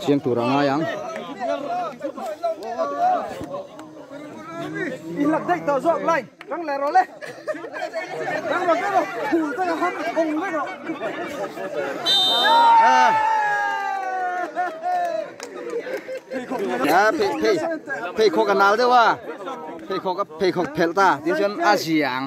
Chiang tur a ngai ang. Pheikhawk a nal deuh a, pheikhawk a pheikhawk phelh ta, tin chuan a ziah ang.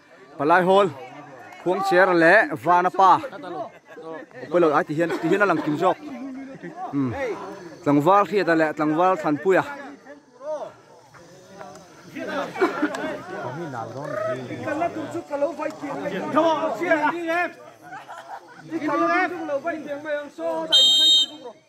Palaihawl Khuangchera leh Vana pa Upalo ai tihian tihian a lang kim zawk um Tlangval Hriata leh Tlangval Thlanpuia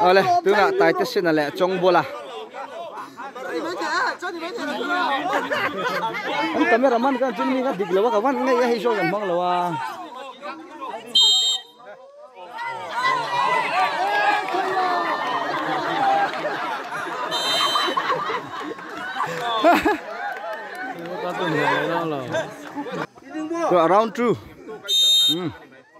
Awle tunah Taite Sina leh Chawngbola An camera man kan chin mi kha dik lo a ka van ngei a hei zawk kan hmang lo a Round two. Mm.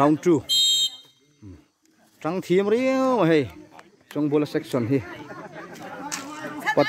round two tang thiam riau a hei chawngbawl a section hi pat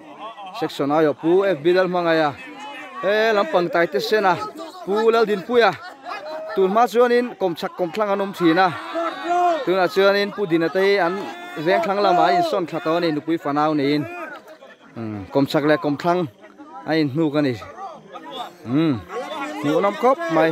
section aia pu fb lal hmangaia he lam pangtai te sena pu laldinpuia tun hma chuanin kawm chak kawm thlang an awm thin a tunah chuanin pu dinate hi an veng thlang lamah an insawn tha tawh a ni nupui fanau niin kawm chak leh kawm thlang an inhnuk a ni hmuhnawm khawp mai.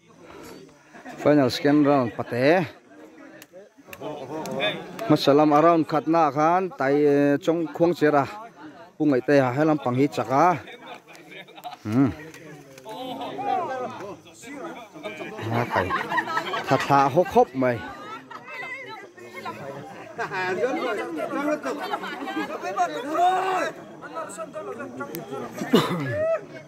Final second round pate hmasa lam a round khat naah khan tai chawng khuang chira Pu Ngaihtaia he lampang hi chak a umm a kai tha tha hawk hawk mai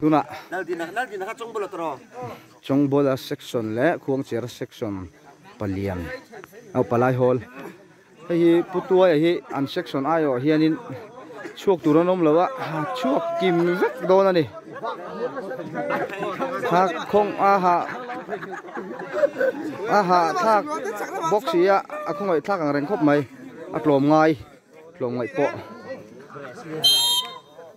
Tunah Chawngbola section leh Khuangchira section palian oh palai hawl hei hi Pu Tuaia hi an section aiawh hianin chhuak tur an awm lo a, chhuak kim vek dawn a ni. Thlak khawng a ha a ha thlak bawk si a, a khawngawih thlak ang reng khawp mai, a tlawm ngai, tlawm ngaih pawh.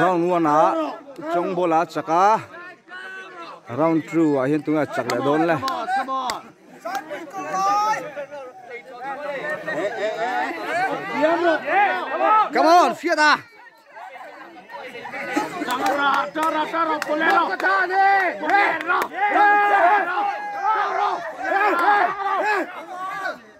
Round one ah Chongball a chak a, round two ah hian tunge a chak leh dawn le. Come on, fiat a. Hey!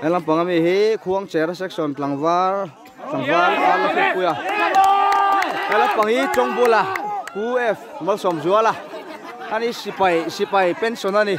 He lampang ami hi Khuangchera section Tlangval Tlangval Arla Hrilhpuia he lampang hi Chawngbuala Pu F Malsawm Zuala ani sipai sipai pension ani